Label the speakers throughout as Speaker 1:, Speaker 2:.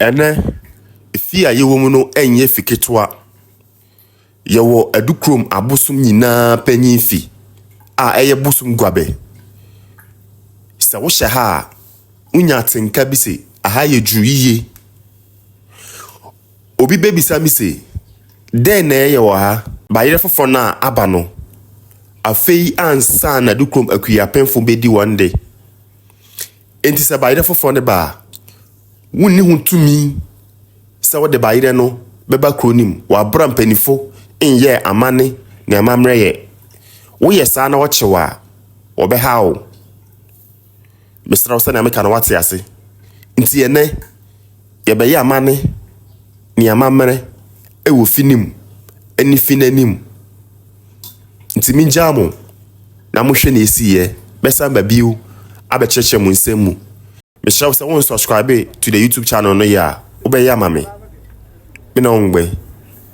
Speaker 1: Ɛnnɛ, fie a yɛwɔ mu no nyɛ fi ketewa. Yɛwɔ Adukurom abosom nyinaa panyin fi a ɛyɛ bosom guabɛ. Sɛ wohyɛ ha a, wunya atenka bi se aha yɛ duru yiye. Obi bebisa me se, Dɛn na ɛyɛ wɔ ha? Bayerɛ foforo no a aba no, afei ansa na Adukurom Akuapemfo bedi wɔn de. Enti sɛ bayerɛ foforɔ no ba a, wonni ho tumi sɛ wode bayerɛ no bɛba kuro no mu wɔ aberɛ a mpanyinfo nyɛɛ amanne ne amammerɛ yɛ. Woyɛ saa na wɔkye wo a, wɔbɛha wo. Mesrɛ wo sɛnea meka no woate ase. Nti ɛnnɛ, Yɛbɛyɛ amane ne amammerɛ wɔ fi no mu ne fi no anim. Nti megyaa mo na mohwɛ nea esiiɛ. Mɛsan ba bio abɛkyerɛkyerɛ mo nsɛm mu. Mesrɛ wo sɛ wo unsubscribe to the YouTube channel no yɛ a, wobɛyɛ ama me. Me ne wo ngbɛ.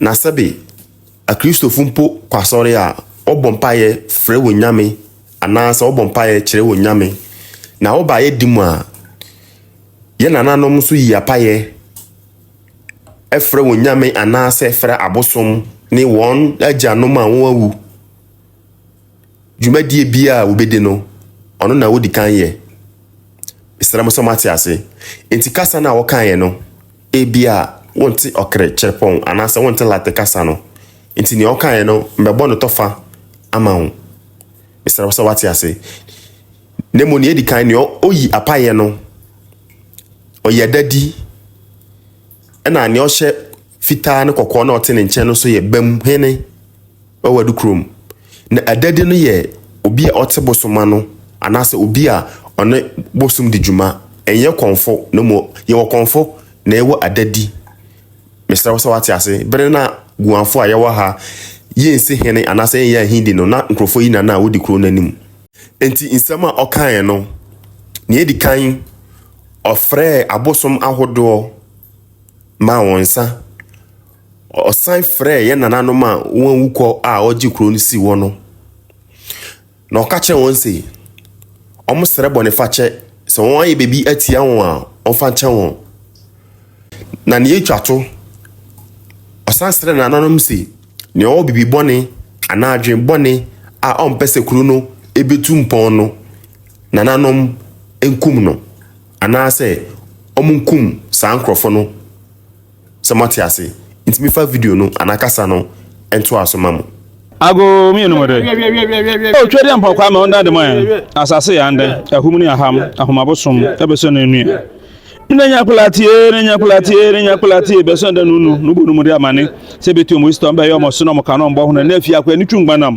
Speaker 1: Na sɛbe Akristofo mpo kɔ asɔre a, wɔbɔ mpaeɛ frɛ wɔn nyame anaasɛ wɔbɔ mpaeɛ kyerɛ wɔn nyame. Na woba yɛ di mu a, yɛ nananom nso yi apaeɛ frɛ wɔn nyame anaasɛ frɛ abosom ne wɔn agyanom a wɔawu. Dwumadie biara a wɔbɛdi no, ɔno na wɔdi kan yɛ. Mesrɛ mo sɛ moate ase. Enti kasa no a wɔkaeɛ no, Ebia wonte ɔkre kyerɛpɔn anaasɛ wonte Latin kasa no, enti nea ɔkaeɛ no mɛbɔ no tɔfa ama wo. Mesrɛ wo sɛ wate ase. Na mmom nea edi kan, nea oyi apaeɛ no, ɔyɛ dadi, ɛna nea ɔhyɛ fitaa ne kɔkɔɔ na ɔte ne nkyɛn no nso yɛ bam hene. Wɔ Adukurom, na Adadi no yɛ obi a ɔte bosom ano anaasɛ obi a ɔne bosom di dwuma. Ɛnyɛ kɔmfo na mmom yɛwɔ kɔmfo na yɛwɔ Adadi. Mesrɛ wo sɛ wate ase. Bere no a Guanfo a yɛwɔ ha yɛnsi hene anaasɛ yɛnyɛ ahindi no, na nkurɔfoɔ yi na na wɔdi kuro no anim. Enti nsɛm a ɔkaeɛ no, nea edi kan, ɔfrɛɛ abosom ahodoɔ maa wɔn nsa. Ɔsan frɛɛ yɛn nananom a wɔawu kɔ a ɔgye kuro no sii hɔ no, na ɔka kyerɛ wɔn se, wɔsrɛ bɔnefakyɛ, sɛ wɔayɛ biribi atia wɔn a, wɔmfa nkyɛ wɔn. Na nea etwa to, ɔsan srɛɛ nananom se, nea ɔwɔ biribi bɔne anaa adwene bɔne a ɔmpɛ sɛ kuro no betu mpɔn no, nananom nkum no, anaasɛ wɔnkum saa nkurɔfo no. Sɛ moate ase nti mefa video no anaa kasa no ntoa so ma mo. Ago mmienu mu de, O Twedeɛ Mpɔkwaa ma ɔndan de ma yɛn, asase yɛ andɛn, ahum ne aham, ahomabo som, ɛbɛsɔ no nnue. Nnɛ nya akwadaa tie, nnɛ nya akwadaa tie, nnɛ nya akwadaa tie, bɛsɔ ɛda no nu, no bɔ no mu de amane, sɛ ɛbɛti wɔn isi tɔ, mbɛyɛ wɔn ɔso na wɔn ka no wɔn bɔho no, nnɛ afie akwadaa no twi ngbanam.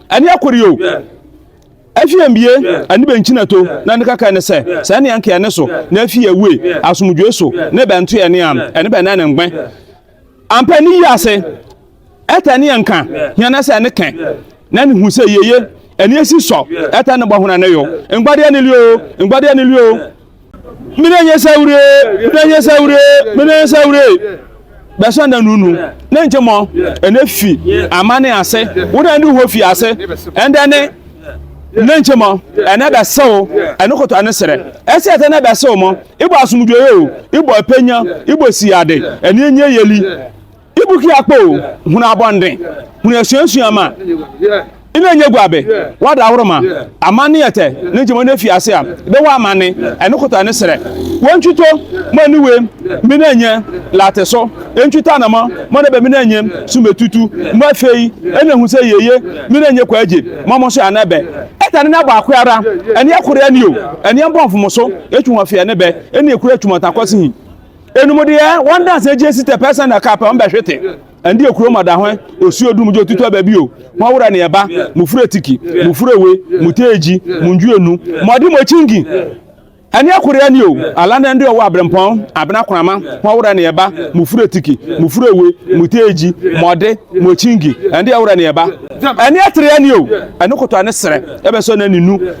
Speaker 1: Ɛne akɔre o, afie mbie, ɛne bɛnkyinato, na ne kaka ne sɛ, sɛ ɛne anka ɛne so, na afie awue, asomdwoe so, ne bɛnto ɛne am, ɛne bɛnɛ ne ngbɛ. Ampa ɛne yi ase, ɛta ɛne anka, hia na sɛ ɛne kɛ, na ne hu sɛ yeye, ɛne esi sɔ, ɛta ne bɔ hona ne yo, ngbɔdeɛ ne lio, ngbɔdeɛ ne lio, Menenye sɛ wure, menenye sɛ wure, menenye sɛ wure. Bɛsɔ na nunu ne nkyɛ mɔ ɛnɛ fi amane ase wo na ne ho fi ase ɛndɛ ne ne nkyɛ mɔ ɛnɛ bɛsɛw ɛne kɔtɔ ɛne serɛ ɛsɛ ɛtɛ na bɛsɛw mɔ ibɔ asomdwoeɛ o ibɔ apenya ibɔ siyade ɛne ɛnyɛ yɛli Ibu ki akpɔ o, hunu abɔnden, hunu asuasua ma ina nye gua be wada ahoro ma amanne yɛtɛ ne nkyɛmu ne fi ase a be wɔ amanne ɛne kota ne serɛ wɔ ntwito mo ani we mina nye late so ntwito anamɔ mo ne be mina nye so me tutu mo afei ɛna ehu sɛ yeye mina nye kwa agye mo mo so ana be ɛta ne nabɔ akwe ara ɛne ɛkore ani o ɛne ɛbɔ mfomo so ɛtwi ho afei ɛne be ɛne ɛkura ɛtwi mo ntakɔ se hi Enom deɛ, wɔn danseɛ gye sitɛ pɛ sɛ na ka pɛ wɔn bɛ hwete. Ɛnde ekurom ɔda hɔn, osuo dum gye otutu aba bio, hɔn wura ne ɛba, mo fura tiki, mo fura we, mo teegyi, mo ndwi enu, mo ɔde mo kyingi. Ɛne ɛkore ani o, ala na ɛnde ɔwɔ abrempɔn, abena konama, hɔn wura ne ɛba, mo fura tiki, mo fura we, mo teegyi, mo ɔde, mo kyingi, ɛnde ɛwura ne ɛba. Ɛne ɛtere ani o, ɛne koto ane serɛ, ɛbɛ sɔ na ne nu.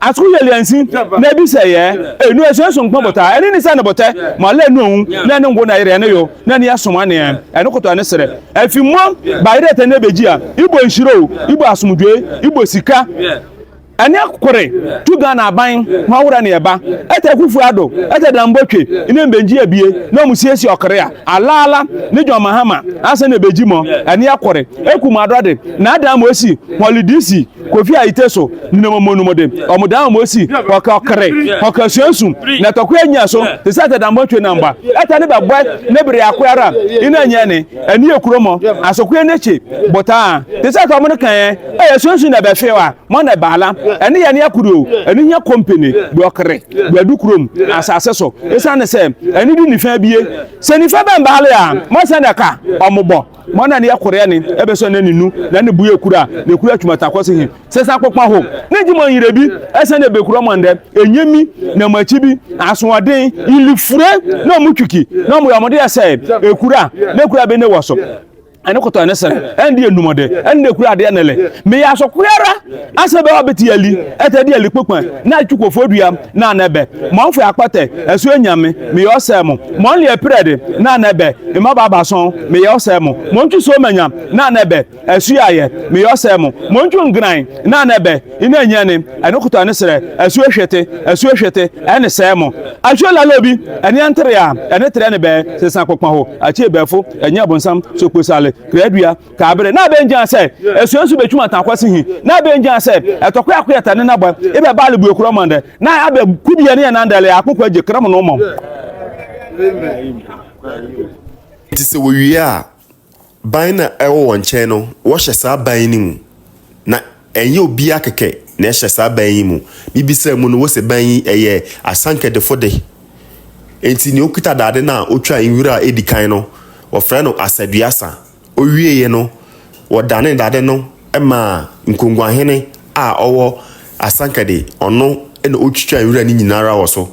Speaker 1: Atoko yɛ liansi na ebi sɛ yɛ enu esuɛ so nkpɔn bota ɛne ni sɛ ne botɛ mo alɛ enu oun na ɛne ngo na yerɛ ne yo na ni asom aneɛ ɛne koto ɛne serɛ ɛfi mo ba yerɛ tɛ ne bejia ibo nhyire o ibo asomdwoe ibo sika ɛne kore tu Ghana aban ho awora ne ɛba ɛtɛ Akuffo Addo ɛtɛ Danbo twe ne mbenji abie na ɔmo siesie ɔkere a alaala ne John Mahama ansa na ebeji mo ɛne kore eku mo adɔde na adan mo esi hɔli DC Kofi Ayite so nenam wɔn anom de wɔn dan wɔn asi ɔkɔkere, ɔkasuansu, na tɔkwa anya so te sɛ atadammɔ twe nam ba. Ɛta ne bɛbɔe ne bere ako ara ina nyɛ ne, ani yɛ kuro mɔ, asokoe ne kye, botaa, te sɛ fam no kan a yɛasuansu na ɛbɛhwew a, mɔ na ɛbaala. Ɛne yɛ ne akodo, ɛne hia kɔmpene, dɔkere, dwadu kurom, asase so, esiane sɛ ɛne de nifa abie. Sɛ nifa bɛmbaale a, mɔ sɛnea ɛka wɔn bɔ. Mɔ na ne yɛ koreɛ ne ɛbɛ sɔ na ne nu na ne buɛ kura ne kura tuma ta kɔsi he sɛ sa kpokpa ho ne gye mɔ nyere bi ɛsɛ ne bɛ kura mɔ ndɛ enye mi na mɔ akyi bi asoɔden ili fure na ɔmo twiki na ɔmo yɛ ɔmo deɛ sɛ ekura ne kura bɛ ne wɔ so ɛne kotɔ ɛne sere ɛne deɛ numɔde ɛne ne kura adeɛ ne le me yɛ aso koyara. Ase bɛ ɔ be ti ali, ɛtɛ di ali kpokpɛn, nan e cu ko fo duam, nan e bɛ mɔ n fuɛ akpɔtɛ, e su e nyan min, min yɛ ɔ sɛ mun, mɔ n liɛ prɛ di, nan e bɛ e mɔ ba ba sɔ'n, min yɛ ɔ sɛ mun, mɔ n cu so mɛ nyan, nan e bɛ e su ya yɛ, min yɛ ɔ sɛ mun, mɔ n cu n grain, nan e bɛ i nɛ nyan nin, e ni kutɔ e ni srɛ, e su e hwe ti, e su e hwe ti, e ni sɛ mun. A su e lalo bi, e ni an trian, e ni trɛ ni bɛ, se san kpokpɛn ho, a ci e bɛ fo, e nyan Abonsam, so kpo sali, krɛ dua. Taa bere na bɛ ngyaa sɛ asua nso betwum ata akwasi hi, na bɛ ngyaa sɛ ɛtɔkwe akwe ɛta ne nabɔ e bɛ baale bue kura mɔndɛ, na abɛ ku bia ne yɛ nandɛ lɛ akpokɔ agye kra mu no mɔ. Nti sɛ wɔwie a, ban na ɛwɔ wɔn nkyɛn no, wɔhyɛ saa ban no mu. Na ɛnyɛ obiara kɛkɛ na ɛhyɛ saa ban yi mu. Mebisaa mu no, wɔse ban yi ɛyɛ Asankɛdefo de. Enti nea okita dade no a otwa nwura a edi kan no, wɔfrɛ no Asaduasa. Ɔwieeɛ no, wɔdanee dade no maa nkonguahene a ɔwɔ asankade, ɔno na ɔtwitwaa nwura no nyina ara wɔ so.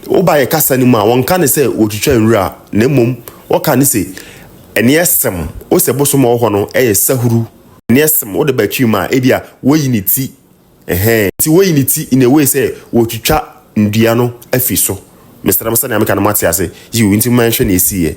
Speaker 1: Woba yɛ kasa no mu a, wɔnka no sɛ wɔtwitwaa nwura, na mmom wɔka no se ɛneɛ sem, wo sɛ bosom a ɔwɔ hɔ no yɛ sahuru, ɛneɛ sem, wode ba akyiri mu a, ebia wɔyi ne ti. Ɛhɛɛ. Nti woyi ne ti in a way sɛ wɔretwitwa nnua no afi so. Mesrɛ mo sɛnea meka no moate ase? Yiw, nti momma yɛnhwɛ nea esiiɛ.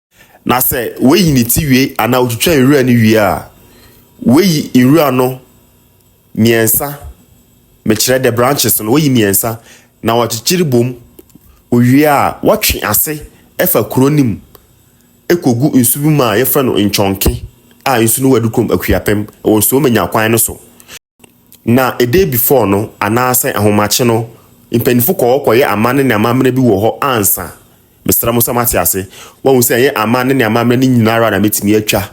Speaker 1: Na sɛ wayi ne ti wie anaa otwitwa nwura no wie a, wayi nwura no mmiɛnsa, mekyerɛ the branches no, wayi mmiɛnsa na wakyekyere bom. Owie a, watwe ase fa kuro no mu kɔgu nsu bi mu a yɛfrɛ no Nkyɔnke a nsu no wɔ Adukurom Akuapem wɔ Nsuo Manya kwan no so. Na a day before no anaasɛ ahomakye no mpanyinfo kɔ hɔ kɔyɛ amanne ne amammerɛ bi wɔ hɔ ansa. Mesrɛ mo sɛ moate ase. Wahu sɛ ɛnyɛ amanne ne amammerɛ no nyinaa ara na mɛtumi atwa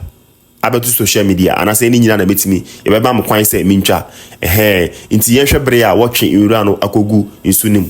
Speaker 1: abɛto social media anaasɛ ɛne nyinaa na mɛtumi yɛbɛma mo kwan sɛ mentwa. Ɛhɛɛ nti yɛnhwɛ bere a wɔtwe nwura no akɔgu nsu no mu.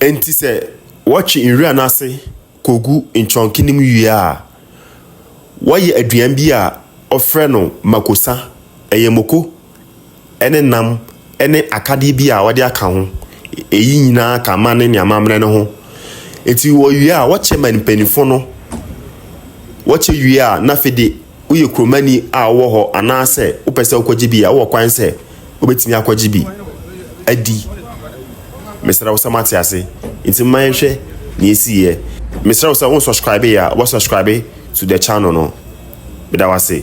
Speaker 1: Enti sɛ wɔtwe nwura no ase kogu nkyɔnke no mu wie a, wɔyɛ aduan bi a wɔfrɛ no makosa. Ɛyɛ mako. ne nam ne akadeɛ bi a wɔde aka ho. Ɛyi nyinaa ka amammerɛ ne amammerɛ no ho. Ɛnti wɔwie a, wɔkyɛ ma mpaninfoɔ no. Wɔkyɛ wie a, na afei de woyɛ kuromani a wowɔ hɔ anaa sɛ wopɛ sɛ wokɔgye bi a, wowɔ kwan sɛ wobɛtumi akɔgye bi adi. Mesrɛ wo sɛ moate ase? Nti momma yɛnhwɛ deɛ ɛsiiɛ. Mesrɛ wo sɛ wo nsɔskraibe a, wobɛsɔskraibe to the channel no. Meda wo ase.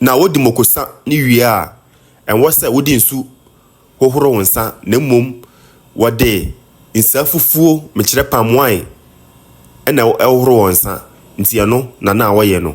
Speaker 1: Na wodi moko sa ne wie a, ɛnwɔ sɛ wode nsu hohoro wo nsa, na mmom wɔde nsa fufuo, mekyerɛ palm wine, na ɛhohoro wɔn nsa, nti ɛno na na wɔyɛ no.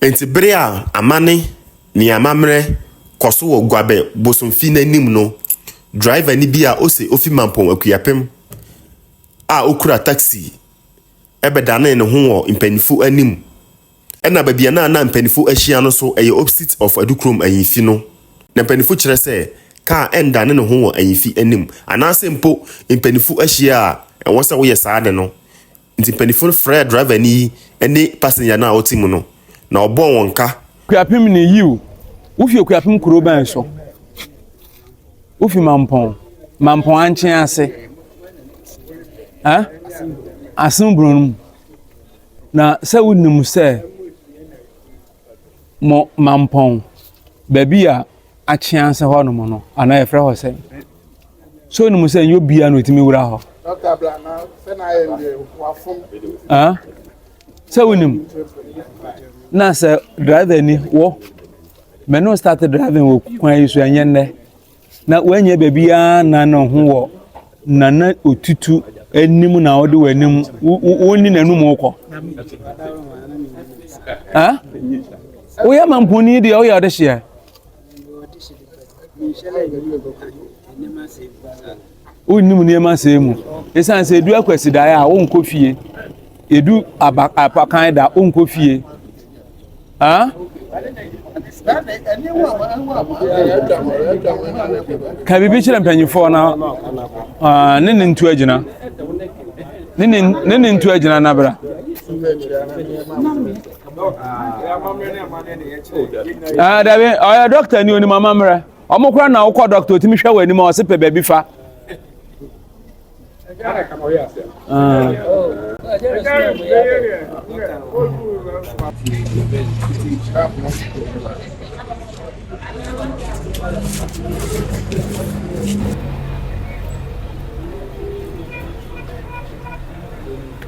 Speaker 1: Enti bere a amanne ne amammerɛ kɔ so wɔ Guabɛ bosomfi no anim no, driverni bi a ose ofi Mampong Akuapem a okura taksi bɛdanee ne ho wɔ mpanyimfo anim. Ɛnna baabi a na na mpanyimfo ahyia no nso, ɛyɛ opposite of Adukurom Ahemfi no, na mpanyimfo kyerɛ sɛ kaa nnane ne ho wɔ ahemfi anim, anaasɛ mpo mpanyimfo ahyia a, ɛwɔ sɛ woyɛ saa ade no Nti mpanyinfo no frɛɛ driver ni yi ne passenger no a ɔte mu no na ɔbɔɔ wɔn ka. Kuapem ne yiw, wofi Okuapem kurow bɛn so? Wofi Mampɔn, Mampɔn ankyen ase, ɛ? Asen buro no mu. Na sɛ wonim sɛ mo Mampɔn, baabi a akyen ase hɔ nom no, anaa yɛfrɛ hɔ sɛn? so onim sɛ nyɛ obiara na otumi wura hɔ sɛ wonim na sɛ driver ni wɔ mɛno start driving wɔ kwan yi so ɛnyɛ nnɛ na woanyɛ baabiara na ne ho wɔ nana otutu anim na wode w'anim wonni n'anum wokɔ woyɛ mamponi deɛ woyɛ ɔde hyeɛ Wonnim nneɛma sɛɛ mu. Esiane sɛ edu akwasidaeɛ a wonkɔ fie. Edu aba apakan da wonkɔ fie. Ah? Ka biribi kyerɛ mpanyinfoɔ na ah, ne ne ntu agyina. Ne ne ntu agyina na bra. Ah, dabi, ɔyɛ oh, doctor ni onim amammerɛ. Ɔmo kora na wokɔ doctor otumi hwɛ wɔ anim a ɔse pɛ baabi fa. Ah.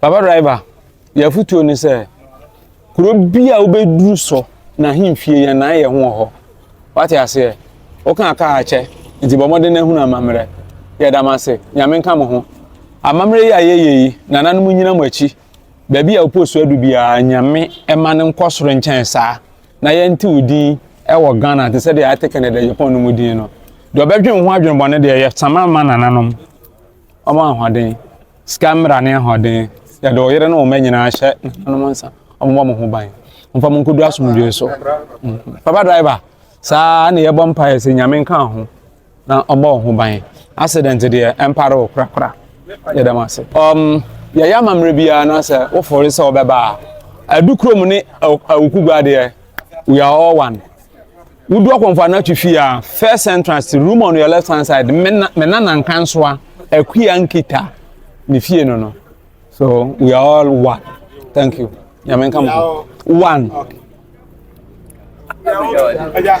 Speaker 1: Papa driver, yɛ afutuo ne sɛ, kuro bi a wobɛduru so na ahemfie yɛn na yɛ ho wɔ hɔ. Wate aseɛ? Woka kaa akyɛ, nti bɔ mmɔden na ahunu amammerɛ. Yɛda mo ase. Nyame nka mo ho. Amammerɛ yi a yɛyɛ yi, nananom nyina mo akyi. Baabi a wopɔ so adu biara, Nyame ɛma no nkɔ soro nkyɛn saa. Na yɛnte wo din ɛwɔ Ghana te sɛdeɛ yɛate Kennedy Agyapong no mu din no. Deɛ ɔbɛdwen ho adwenbɔne deɛ, yɛsama ma nananom. Ɔmɔ ahoɔden. Sika mmara ne ahoɔden. Yɛde wo yere ne wo mma nyinaa hyɛ nananom nsa. Wɔmmɔ mo ho ban. Mfa mo nkɔdu asomdwoe so. Mm. Papa driver, saa na yɛbɔ mpaeɛ sɛ Nyame nka ho na ɔmmɔ wo ho ban. Accident deɛ ɛmpare wo korakora. Yɛda mo ase. Um, yɛyɛ amammerɛ biara na sɛ wofɔre sɛ wɔbɛba a, adu kurom ne awukugua deɛ, we are all one. Wodu akɔmfo anatu fi a, first entrance to room on your left hand side, Mena, Mena Nankansoa, Akua Nkita, ne fie no no. So we are all one. Thank you. Nyame nka mo. One. Okay. Yeah, yeah.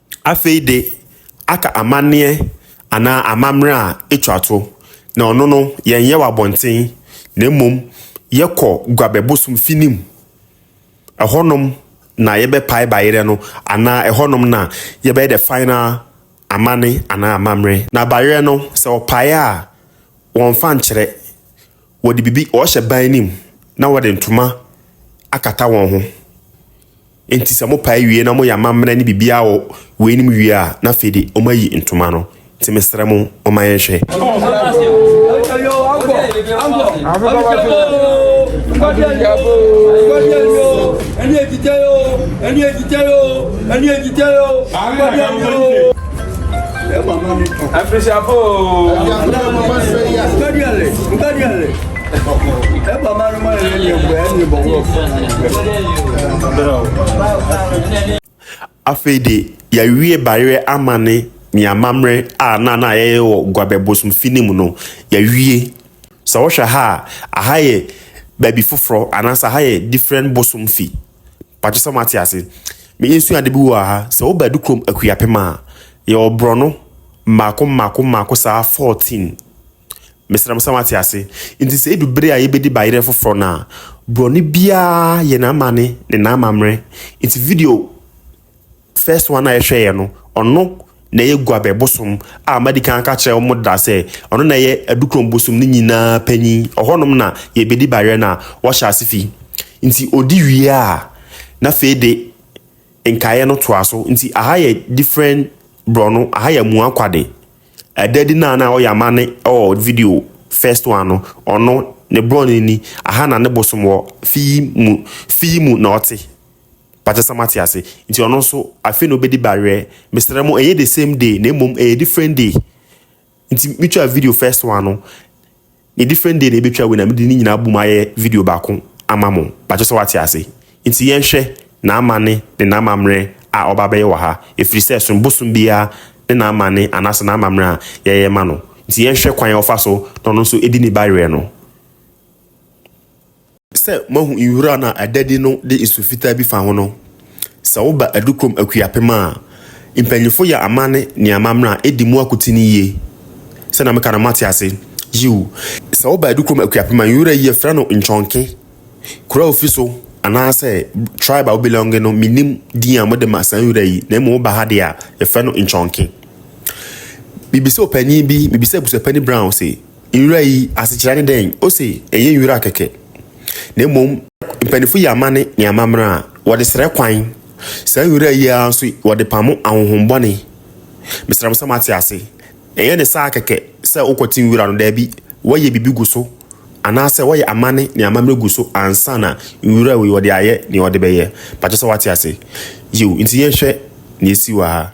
Speaker 1: Afei de, aka amanneɛ anaa amammerɛ a etwa to, na ɔno no, yɛnyɛ wɔ abɔnten, na mmom yɛkɔ Guabɛ bosom fi no mu. Ɛhɔnom na yɛbɛpae bayerɛ no, anaa ɛhɔnom na yɛbɛyɛ the final amanne anaa amammerɛ. Na bayerɛ no, sɛ wɔpae a, wɔmfa nkyerɛ. Wɔde biribi, wɔhyɛ ban no mu, na wɔde ntoma akata wɔn ho. Enti sɛ mopae wie na moyɛ amammerɛ ne biribiara wɔ weinom wie a, na afei de wɔayi ntoma no. Enti mesrɛ mo, momma yɛnhwɛ. Afirisiafo! Afei de yɛawie bayerɛ amanne ne amammerɛ a na na yɛyɛ wɔ Guabɛ bosomfi no mu no, yɛawie. Sɛ wohwɛ ha a, aha yɛ baabi foforɔ anaasɛ aha yɛ different bosomfi. Mpakyɛ sɛ moate ase. Yɛsua ade bi wɔ ha, sɛ woba Adukurom Akuapem a, yɛwɔ borɔno mmaako mmaako mmaako saa 14. Mesrɛ mo sɛ moate ase. Nti sɛ edu bere a yebedi bayerɛ foforɔ no a, borɔno biara yɛ n'amane ne n'amammerɛ. Nti video first one a yɛhwɛeɛ no, ɔno na ɛyɛ Guabɛ bosom a madi kan aka kyerɛ wɔn da sɛ ɔno na ɛyɛ Adukurom bosom no nyinaa panyin. Ɔhɔnom na yɛbɛdi bayerɛ no a wɔhyɛ ase fi. Nti ɔdi wie a, na afei de nkaeɛ no toa so. Nti aha yɛ different borɔno, aha yɛ Amuakwade. Ɛda adi na na ɔyɛ amanne wɔ video First One no, ɔno, ne brɔne ni, aha na ne bosom wɔ, fi yi mu, fi yi mu na ɔte. Mpakyɛ sɛ moate ase. Nti ɔno nso, afei na ɔbɛdi bawerɛ. Mesrɛ mo, ɛnyɛ the same day, na mmom ɛyɛ different day. Nti metwaa video First One no, Ne different day na yɛbɛtwa wei na mede ne nyinaa abom ayɛ video baako ama mo, bakyɛ sɛ woate ase? Nti yɛnhwɛ n'amane ne n'amammerɛ a ɔba bɛyɛ wɔ ha, ɛfiri sɛ som bosom biara ne n'amane anaasɛ n'amammerɛ a yɛyɛ ma no, nti yɛnhwɛ kwan a ɔfa so na ɔno nso ɛdi ne bayerɛ no. Sɛ moahu nwura no a adadi no de nsu fitaa bi fa ho no, sɛ woba Adukurom Akuapem a, mpanyimfo yɛ amanne ne amammerɛ a, edi mu akote no yiye. Sɛnea meka no, moate ase? Yiw. Sɛ woba Adukurom Akuapem a, nwura yi, yɛfrɛ no Nkyɔnke. Kurow a wufi so anaasɛ tribe a wo belonge no, minnim din a mode ma saa nwura yi, na mmom woba ha de a, yɛfrɛ no Nkyɔnke. Mibisa ɔpanyin bi, mibisa abusuapani Brown se, Nwura yi asekyerɛ ne dɛn? Ose ɛnyɛ nwura kɛkɛ, na mmom mpanyinfo yi amanne ne amammerɛ a wɔde srɛ kwan. Saa nwura yi ara nso wɔde pamo ahonhommɔne. Mesrɛ mo sɛ moate ase. Ɛnyɛ ne saa kɛkɛ sɛ wokɔte nwura no, daabi, wɔyɛ biribi gu so, anaasɛ wɔyɛ amanne ne amammerɛ gu so ansa na nwura wei wɔde ayɛ nea wɔde bɛyɛ. Pakyɛ sɛ woate ase? Yiw, nti yɛnhwɛ nea esi wɔ ha.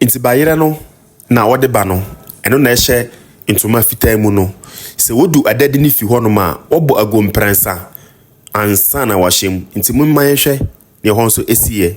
Speaker 1: Nti bayerɛ no na wɔde ba no, ɛno na ɛhyɛ ntoma fitaa mu no. Sɛ wɔdu adadi no fi hɔnom a, wɔbɔ aguo mprɛnsa ansa na wɔahyɛ mu. Nti momma yɛnhwɛ deɛ ɛhɔ nso siiɛ.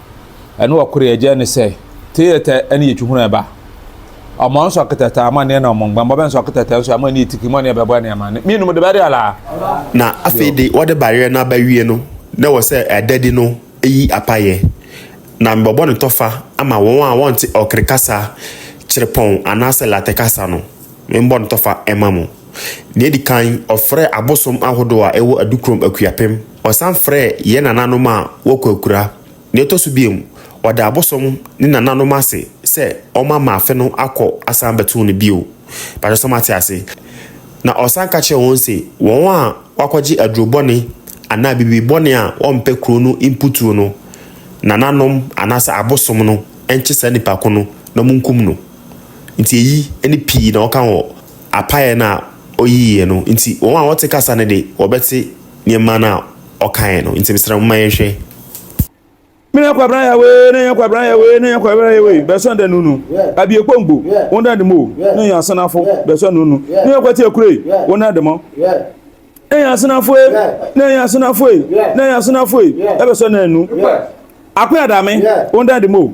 Speaker 1: Ɛne ɔkore agya ne sɛ, Teetɛ ɛne yɛ twihunu ɛba. Ɔmɔ nso aketɛtɛ ama neɛ na ɔmɔ ngbɛn bɔbɛ nso aketɛtɛ nso ama neɛ tiki mɔ neɛ bɛbɔ ɛne ama ne. Mienum de bɛde ala. Na afei de wɔde bareɛ no aba wie no, na ɛwɔ sɛ ɛda di no yi apayɛ. Na mebɔbɔ ne tɔfa ama wɔn a wɔnte ɔkore kasa, kyerepɔn anaasɛ latɛ kasa no. Membɔ ne tɔfa ɛma mo. Deɛ ɛdi kan, ɔfrɛɛ abosom ahodoɔ a ɛwɔ Adukurom Akuapem. Ɔsan frɛɛ yɛn nananom a wɔakurakura. Nea ɛtɔ so bio, ɔda abosom ne nananom ase sɛ wɔma maafe no akɔ asan abɛtow no bio. Mpakyɛw sɛ moate ase? Na ɔsan ka kyerɛ wɔn se wɔn a wɔakɔgye aduru bɔne anaa biribi bɔne a wɔmpɛ kurow no mputuru no, nananom anaasɛ abosom no nkye saa nipa ko no na wonkum no. Enti eyi ne pii na ɔka wɔ apaeɛ no a ɔyiiɛ no nti. Wɔn a wɔte kasa no de, wɔbɛte nneɛma no a ɔkaeɛ no. Nti mesrɛ mo ma yɛnhwɛ. Me na kwabena ya wee ne ya kwabena ya wee ne ya kwabena ya wee bɛ sɔn dɛ nunu abie kpɔ ngbo wo na de mo ne ya senafo bɛ sɔn nunu ne ya kwati akure wo na de mo ne ya senafo e ne ya senafo e ne ya senafo e bɛ sɔn dɛ nunu akwe adame wo na de mo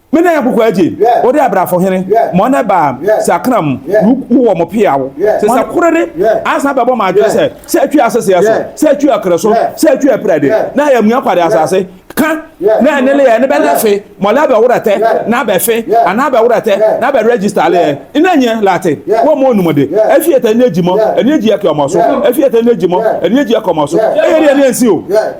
Speaker 1: Me nan akokɔ agye, wo de abrafo hene, mo na ɛbaa sɛ akra mu, wo wɔ mo pea wo. Te sɛ koro de, asan bɛbɔ mo adwene sɛ, sɛ atwi aseseɛ so, sɛ atwi akra so, sɛ atwi apira de, na ayɛ mua kwa de asase, ka, na ɛne leɛ ne bɛ lɛfe, mɔ lɛ bɛ wora tɛ, na bɛ fe, anaa bɛ wora tɛ, na bɛ register leɛ, ina nyɛ late, wɔ mo onum de, afi ɛtɛ ne agyi mɔ, ɛne agyi ɛkɛ ɔmɔ so, afi ɛtɛ ne agyi mɔ, ɛne agyi ɛkɛ ɔmɔ so, ɛyɛ deɛ ne ɛnsi o.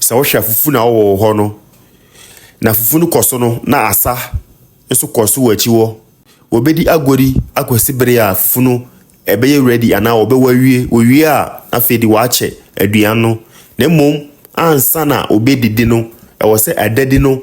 Speaker 1: Sɛ wohwɛ afufu na ɔwɔ wɔ hɔ no, na afufu no kɔ so no na asa nso kɔ so wɔ akyi hɔ. Wɔbɛdi agodi akɔsi bere a fufu no ɛbɛyɛ ready anaa wɔbɛwɔ awie. Wɔwie a, afei de wɔakyɛ aduan no. Na mmom ansa na wɔbɛdidi no, ɛwɔ sɛ adadi no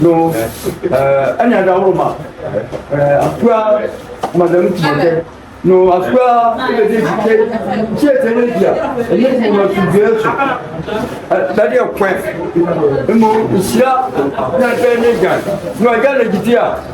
Speaker 1: no ɛna ɛda hɔ ma akura madam tìmɔtɛ no akura ɛbɛdi ekike tí ɛtɛ ne bia ɛnyɛ ti ma tu bia esu ɛdadi ɛkwɛ ɛmu nhyira na ɛbɛn ne gyan no ɛgya na gidi a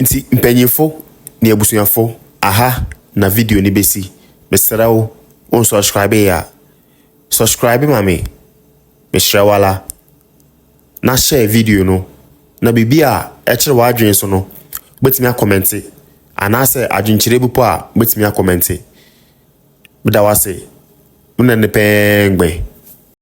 Speaker 1: nti mpanyinfo ne abusuafo aha na video no bɛsi mesrɛ wo wo nsubscribe yɛ a subscribe ma me mehyerɛ wala na hyɛ video no na biribi a ɛkyerɛ w'adwene so no wobɛtumi akɔmɛnte anaasɛ adwenkyerɛ bi po a wobɛtumi akɔmɛnte meda wo ase wo na ne pɛɛ ngbɛn